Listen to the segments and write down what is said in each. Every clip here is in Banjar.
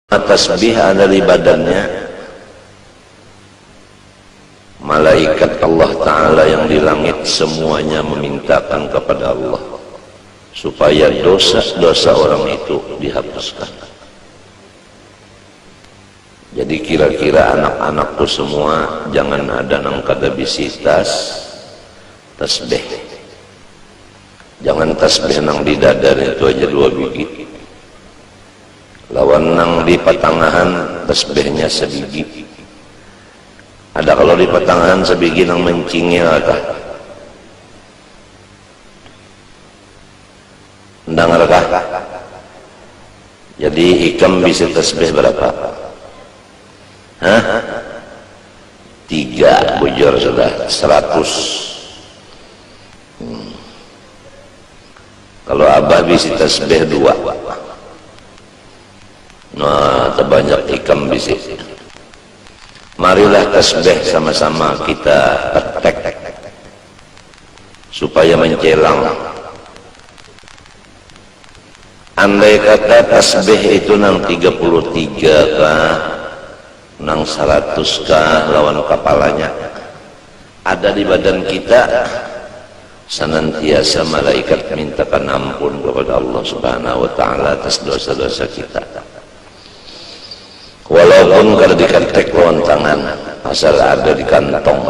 Batasbih ada di badannya, malaikat Allah Ta'ala yang di langit semuanya memintakan kepada Allah supaya dosa-dosa orang itu dihapuskan. Jadi kira-kira anak-anakku semua jangan ada nang kada bisi tas tasbih. Jangan tasbih nang di dada itu aja dua bigi. Lawan nang di patangahan tasbihnya sabigi. Ada kalo di patangahan sabigi nang mancingil kah? Mandangar kah? Jadi ikam bisi tasbih barapa? Hah? Tiga bujur sudah, seratus. Hmm. Kalo abah bisi tasbeh dua. Nah tabanyak ikam bisi. Marilah tasbeh sama sama kita petek supaya mencelang. Andai kata tasbeh itu nang tiga puluh tiga kah. Nang saratus ka lawan kapalanya ada di badan kita sanantiasa malaikat mintakan ampun kapada Allah subhanahu wa ta'ala atas dosa-dosa kita walaupun kada di ketek lawan tangan asal ada di kantong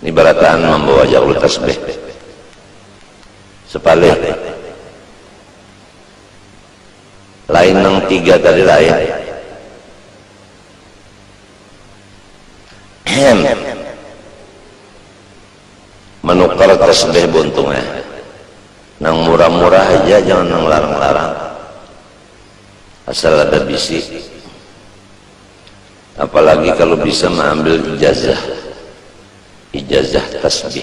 ni barataan mambawa jaqlu tasbih sapalih Lain nang tiga tadi lah eh. Ahem. Manukar tasbih buntung eh. Nang murah-murah haja jangan nang larang-larang. Asal ada bisi. Apalagi kalau bisa mengambil ijazah. Ijazah tasbih.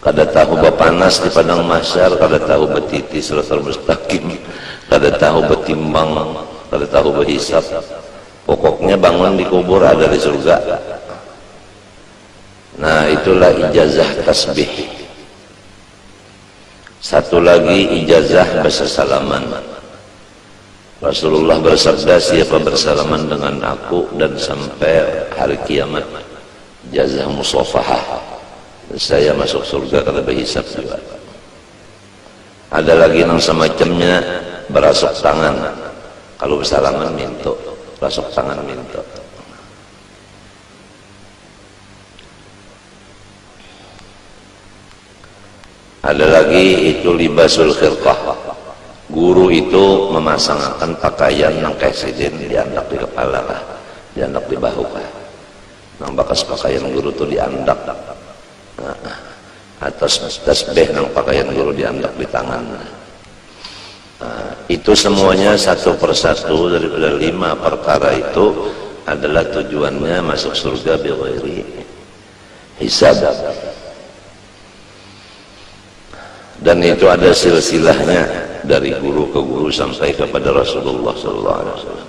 Kada tahu bapanas di padang mahsyar, kada tahu batiti siratal mustaqim, kada tahu batimbang, kada tahu bahisab. Pokoknya bangun di kubur ada di surga. Nah, itulah ijazah tasbih. Satu lagi ijazah basasalaman. Rasulullah bersabda, siapa bersalaman dengan aku dan sampai hari kiamat. Jazah musofahah, niscaya masuk surga kada bahisab jua. Ada lagi nang samacamnya barasuk tangan kalu basalaman mintu, rasuk tangan mintu. Ada lagi itu libasul khirqah, guru itu mamasangakan pakaian nang kaya sidin diandak di kepala kah, diandak di bahu kah. Nang bakas pakaian guru tu diandak atas tasbeh nang pakaian guru diandak di tangan. Itu semuanya satu persatu daripada lima perkara itu adalah tujuannya masuk surga bighairi hisab. Dan itu ada silsilahnya dari guru ke guru sampai kepada Rasulullah sallallahu alaihi wasallam.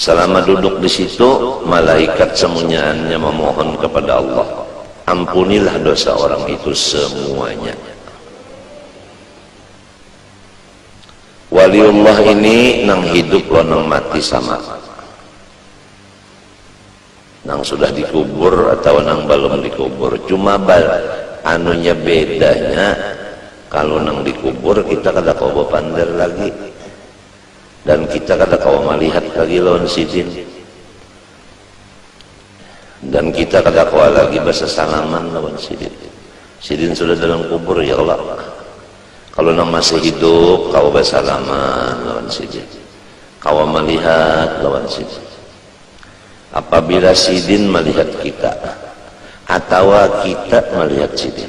Salama duduk di situ, malaikat samunyaannya mamohon kapada Allah, Ampunilah dosa orang itu semuanya. Waliullah ini nang hidup lawan nang mati sama. Nang sudah dikubur atawa nang balum dikubur. Cuma anunya bedanya, kalu nang dikubur kita kada kawa bapander lagi. Dan kita kada kawa malihat lagi lawan Sidin, dan kita kada kawa lagi basasalaman lawan Sidin. Sidin sudah dalam kubur, ya Allah. Kalau nang masih hidup, kawa basalaman lawan Sidin. Kawa malihat lawan Sidin. Apabila Sidin malihat kita, atawa kita malihat Sidin.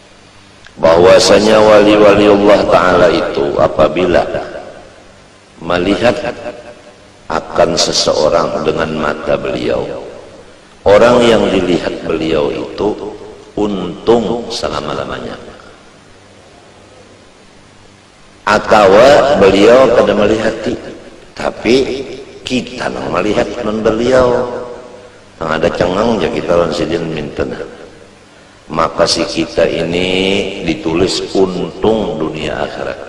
bahwasanya wali-wali Allah Ta'ala itu apabila melihat akan seseorang dengan mata beliau orang yang dilihat beliau itu untung selama-lamanya atau beliau kada melihati tapi kita nang melihat non beliau nang ada cengang ya kita lawan sidin minta Maka si kita ini ditulis untung dunia akhirat.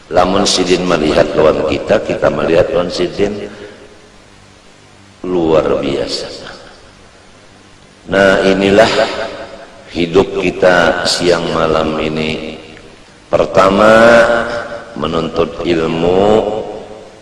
Lamun sidin malihat lawan kita, kita malihat lawan sidin, luar biasa. Nah inilah hidup kita siang malam ini. Pertama, menuntut ilmu,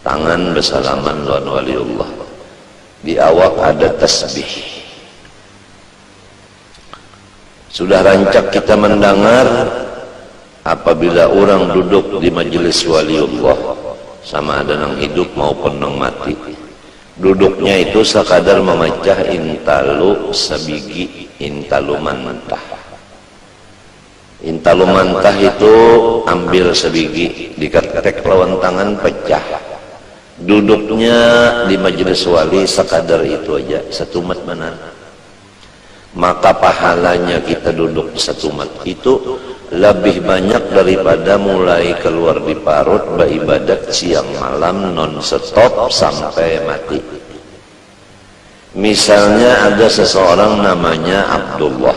Tangan basalaman lawan waliullah. Di awak ada tasbih. Sudah rancak kita mandangar apabila urang duduk di majelis waliullah, sama ada nang hidup maupun nang mati, duduknya itu sakadar mamacah intalu sabigi, intalu mantah. Hintalu mantah itu ambil sabigi diketek lawan tangan pecah. Duduknya di majelis wali sakadar itu aja satumat banar. Maka pahalanya kita duduk satumat itu labih banyak daripada mulai kaluar di parut baibadat siang malam non stop sampai mati. Misalnya ada seseorang namanya Abdullah.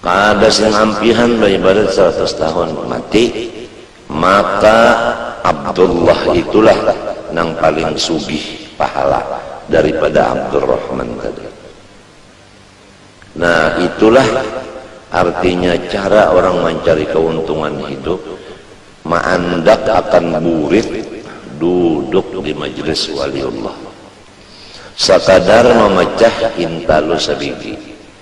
Kada sing ampihan baibadat saratus tahun mati, maka Abdullah itulah nang paling sugih pahala daripada Abdurrahman tadi. Nah, itulah artinya cara orang mancari kauntungan hidup, maandak akan burit duduk di majlis waliullah. Sakadar mamacah hintalu sabigi.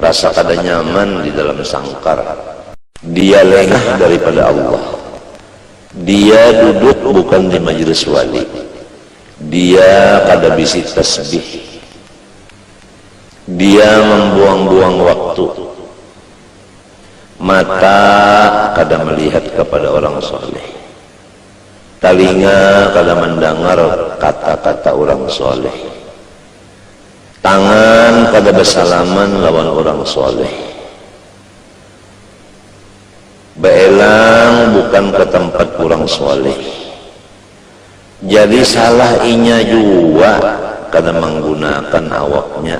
Rasa kada nyaman di dalam sangkar. Dia lengah daripada Allah. Dia duduk bukan di majelis wali. Dia kada bisi tasbih. Dia mambuang-buang waktu. Mata kada melihat kapada urang shaleh. Talinga kada mandangar kata-kata urang shaleh. Tangan kada basalaman lawan urang shaleh. Baelang bukan ka tampat urang shaleh. Jadi salah inya jua kada manggunakan awaknya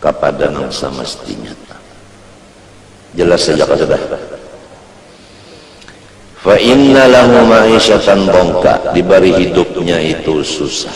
kapada nang samastinya. Jelas haja ka sudah. Fa inna lahu ma'isyatan dongka, dibari hidupnya itu susah.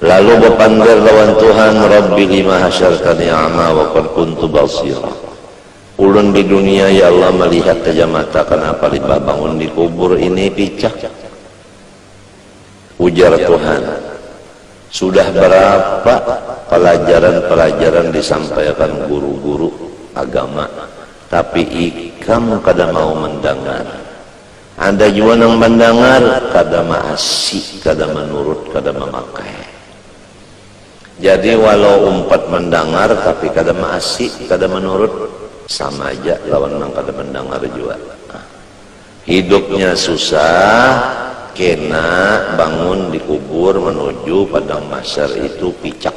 Lalu bapander lawan Tuhan, Rabbi lima hasyartani a'ma wa qad kuntu basira. Ulun di dunia ya Allah malihat haja mata kanapa limbah bangun di kubur ini picak? Ujar Tuhan, Sudah barapa palajaran-palajaran disampaiakan guru-guru agama tapi ikam kada mau mandangar. Ada jua nang mandangar kada maasi, kada manurut, kada mamakai. Jadi walau umpat mandangar tapi kada maasi, kada manurut, sama ja lawan nang kada mandangar jua. Hidupnya susah, kena bangun dikubur manuju padang mahsyar itu picak.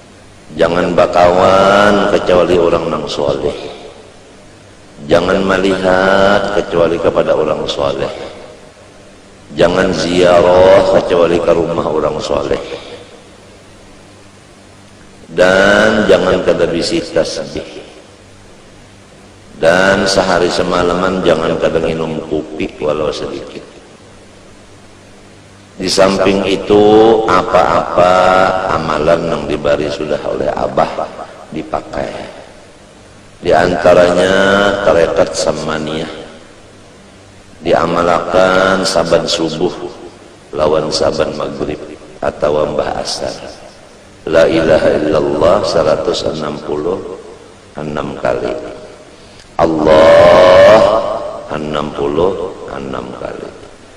Jangan bakawan kacuali urang nang shalih. Jangan malihat kacuali kapada urang shalih. Jangan ziarah kacuali ka rumah urang shalih. Dan jangan kada bisi tasbih. Dan sahari samalaman jangan kada nginum kupi walau sadikit. Di samping itu, apa-apa amalan nang dibari sudah oleh abah dipakai. Di antaranya tarekat sammaniyah, diamalakan saban subuh lawan saban magrib atawa mbah asar, La ilaha illallah saratus anam puluh anam kali, Allah anam puluh anam kali.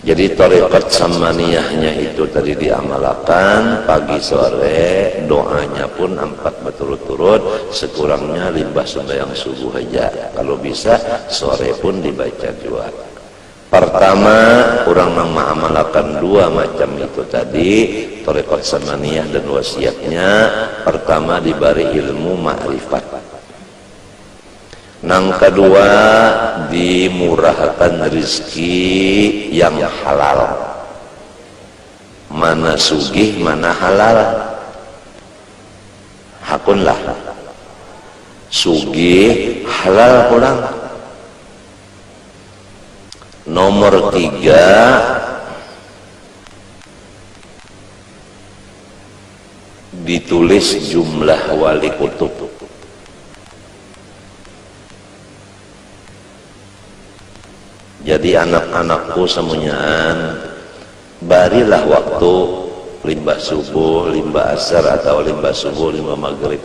Jadi tarekat Sammaniyahnya itu tadi diamalakan pagi sore, doanya pun ampat baturut-turut, sekurangnya limbah sumbayang subuh haja, kalu bisa sore pun dibaca jua. Partama, urang nang maamalakan dua macam itu tadi, tarekat Sammaniyah dan Wasiyahnya, partama dibari ilmu ma'rifat. Nang kadua, dimurahakan rizki yang halal. Mana sugih mana halal? Hakunlah. Sugih halal pulang. Nomor tiga, Ditulis jumlah wali kutub. Jadi anak-anakku samunyaan, barilah waktu limbah subuh, limbah asar, atawa limbah subuh, limbah magrib.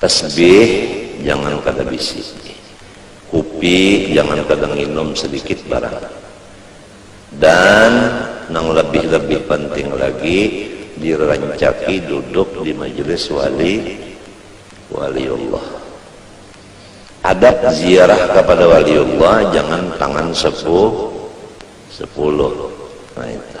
Tasbih jangan kada bisi. Kupi jangan kada nginum sadikit barang. Dan nang labih-labih panting lagi dirancaki duduk di majelis wali waliullah. Adab ziarah kapada waliullah jangan tangan sepu sepuluh. Nah itu.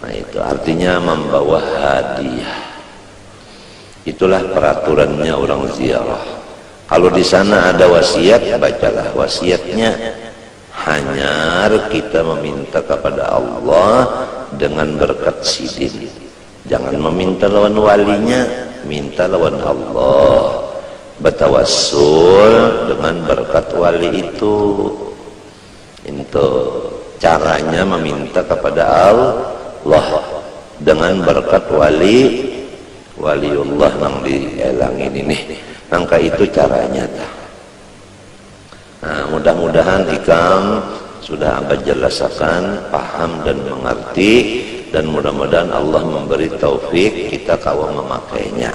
Nah itu artinya mambawa hadiah. Itulah peraturannya orang ziarah. Kalau di sana ada wasiat, bacalah wasiatnya. Hanyar kita meminta kepada Allah dengan berkat sidin. Jangan meminta lawan walinya, minta lawan Allah. Batawassul dengan berkat wali itu. Intu caranya maminta kapada Allah dengan berkat wali waliullah nang di elang ini nih nang ka itu caranya ta nah mudah mudahan ikam sudah abah jelasakan paham dan mengerti dan mudah mudahan Allah memberi taufik kita kawa memakainya.